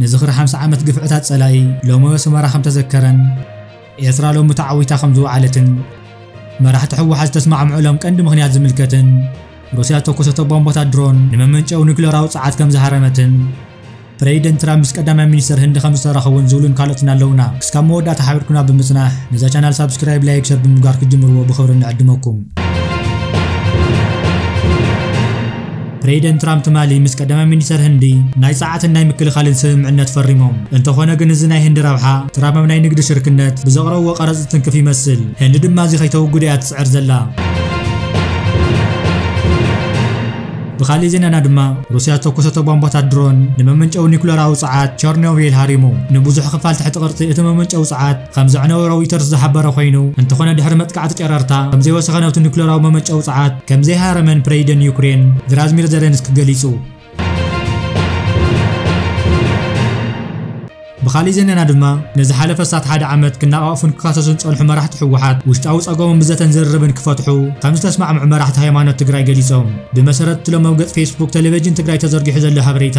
ንዝኽሪ ሓምሳ ዓመት ግፍዕታት ጸላኢ ሎሚ ኣስመራ ከም ተዘከረን ኤርትራ ሎሚ ተዓዊታ ከም ዝወዓለትን መራሕቲ ህወሓት ዝተስማዕምዑሎም ቀንዲ ምኽንያት ዝምልከትን ሩስያ ዝተኮሰቶ ቦምቦታት ድሮን ንመመንጨዊ ኒክለራዊ ጸዓት ከም ዝሃረመትን ፕሬዚደንት ትራምፕ ምስ ቀዳማይ ሚኒስተር ህንዲ ከም ዝተራኸቡን ዝብሉን ካልኦትን ኣለውና። ክስካብ መወዳእታ ሓቢርኩና ብምጽናሕ ነዛ ቻናል ሳብስክራይብ፣ ላይክ፣ ሸር ብምግባር ክትጅምርዎ ብኽብሪ ንዕድመኩም። ፕሬደንት ትራምፕ ትማሊ ምስ ቀዳማይ ሚኒስተር ህንዲ ናይ ጸዓትን ናይ ምክልኻልን ስምምዕነት ፈሪሞም። እንተኾነ ግን እዚ ናይ ህንዲ ረብሓ ትራምፕ ኣብ ናይ ንግዲ ሽርክነት ብዘቕረብዎ ቀረጽ ዝትንክፍ ይመስል። ህንዲ ድማ እዚ ከይተውግዶ እያ ትጽዕር ዘላ። ብኻሊእ ዜናና ድማ ሩስያ ዝተኮሰቶ ቧንቧታት ድሮን ንመመንጨዊ ኒኩለራዊ ጸዓት ቸርኖቪል ሃሪሙ። ንብዙሕ ክፋል ትሕቲ ቅርጺ እቲ መመንጨዊ ጸዓት ከም ዘዕነወ ሮይተርስ ዝሓበረ ኮይኑ፣ እንተኾነ ድሕሪ መጥቃዕቲ ጨረርታ ከም ዘይወሰኸ ናብቲ ኑክለራዊ መመንጨዊ ጸዓት ከም ዘይሃረመን ፕረይደን ዩክሬን ቭላዝሚር ዘለንስኪ ገሊጹ። ብኻሊእ ዜናና ድማ ንዝሓለፈ ኣስታት ሓደ ዓመት ክናቓቕፉን ክካሰሱን ዝጸንሑ መራሕቲ ህወሓት ውሽጣዊ ጸገሞም ብዘተን ዝርርብን ክፈትሑ ከም ዝተስማዕምዑ መራሕቲ ሃይማኖት ትግራይ ገሊጾም። ብመሰረት እቲ ሎሚ ኣብ ገጽ ፌስቡክ ተለቬጅን ትግራይ ተዘርጊሑ ዘሎ ሃበሬታ፣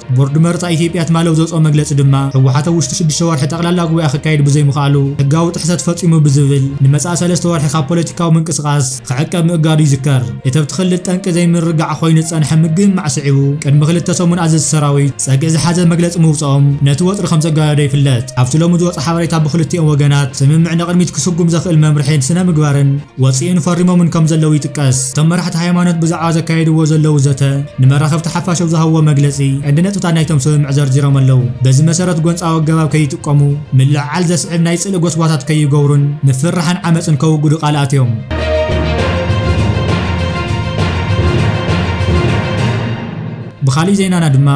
ቦርድ መረፃ ኢትዮጵያ ትማሊ ኣብ ዘውፀኦ መግለፂ ድማ ህወሓት ኣብ ውሽጢ ሽዱሽተ ወርሒ ጠቕላላ ጉባኤ ክካየድ ብዘይምኽኣሉ ሕጋዊ ጥሕሰት ፈፂሙ ብዝብል ንመፃኢ ሰለስተ ወርሒ ካብ ፖለቲካዊ ምንቅስቓስ ክዕቀብ ምእጋዱ ይዝከር። እቲ ኣብቲ ክልል ጠንቂ ዘይምርግጋዕ ኾይኑ ዝፀንሐ ምግምማዕ ስዒቡ ቅድሚ ክልተ ሰሙን ኣዘዝቲ ሰራዊት ፀግዒ ዝሓዘ መግለፂ ምውፀኦም ነቲ ወጥሪ ከምዘጋደዶ ይፍለጥ። ኣብቲ ሎሚ ዝወፀ ሓበሬታ ብኽልቲኦም ወገናት ስምምዕ ንቕድሚት ክስጉም ዘኽእል መምርሒን ስነ ምግባርን ወጺእን ፈሪሞምን ከም ዘለዉ ይጥቀስ። እቶም መራሕቲ ሃይማኖት ብዛዕባ ዘካየድዎ ዘለዉ ዘተ ንመራኸብቲ ሓፋሽ ኣብ ዝሃብዎ መግለጺ ቀንዲ ነጥብታት ናይቶም ስምምዕ ዘርዚሮም ኣለዉ። በዚ መሰረት ጎንጻዊ ኣገባብ ከይጥቀሙ፣ ምልዕዓል ዘስዕብ ናይ ጽልኢ ጎስጓሳት ከይገብሩን ምፍርራሕን ዓመጽን ከውግዱ ቃል ኣትዮም። ብኻሊእ ዜናና ድማ፣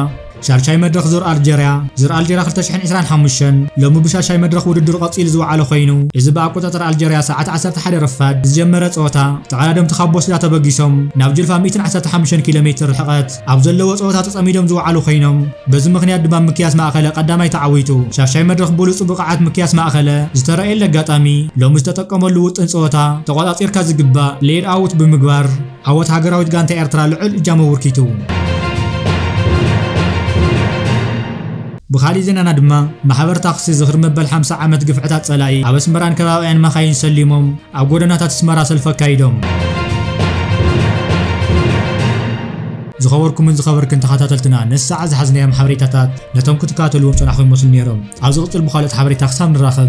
ሻድሻይ መድረኽ ዙር ኣልጀርያ፣ Zur Algeria 2025፣ ሎሚ ብሻድሻይ መድረኽ ውድድሩ ቀጺሉ ዝወዓለ ኮይኑ፣ እዚ ብኣቆጻጽራ ኣልጀርያ ሰዓት ዓሰርተ ሓደ ረፋድ ብዝጀመረ ጸወታ፣ ተቐዳደምቲ ካብ ቦስዳ ተበጊሶም ናብ ጅልፋ ሚእትን ዓሰርተ ሓሙሽተን ኪሎ ሜትር ርሕቐት ኣብ ዘለዎ ጸወታ ተጸሚዶም ዝወዓሉ ኮይኖም፣ በዚ ምኽንያት ድማ ሚክያስ ማእከለ ቀዳማይ ተዓዊቱ። ሻድሻይ መድረኽ ብሉጹ ብቐዓት ሚክያስ ማእከለ ዝተራእየሉ ኣጋጣሚ፣ ሎሚ ዝተጠቀመሉ ውጥን ጸወታ፣ ተቖጻጺርካ ዝግባእ፣ Laid Out፣ ብምግባር፣ ዓወት ሃገራዊት ጋንታ ኤርትራ ልዑል እጃም ኣበርኪቱ። ብኻሊእ ዜናና ድማ ማሕበር ታክሲ ዝኽሪ መበል ሓምሳ ዓመት ግፍዕታት ጸላኢ ኣብ ኣስመራን ከባቢኣን መኻይን ሰሊሞም ኣብ ጎደናታት ኣስመራ ሰልፊ ኣካይዶም። ዝኸበርኩምን ዝኸበርክን ተኸታተልትና ነዚ ሰዓት ዝሓዝናዮም ሓበሬታታት ነቶም ክትከታተልዎም ጸናሕኩም ይመስሉ ነይሮም። ኣብ ዝቕጽል ብኻልኦት ሓበሬታ ክሳብ ንራኸብ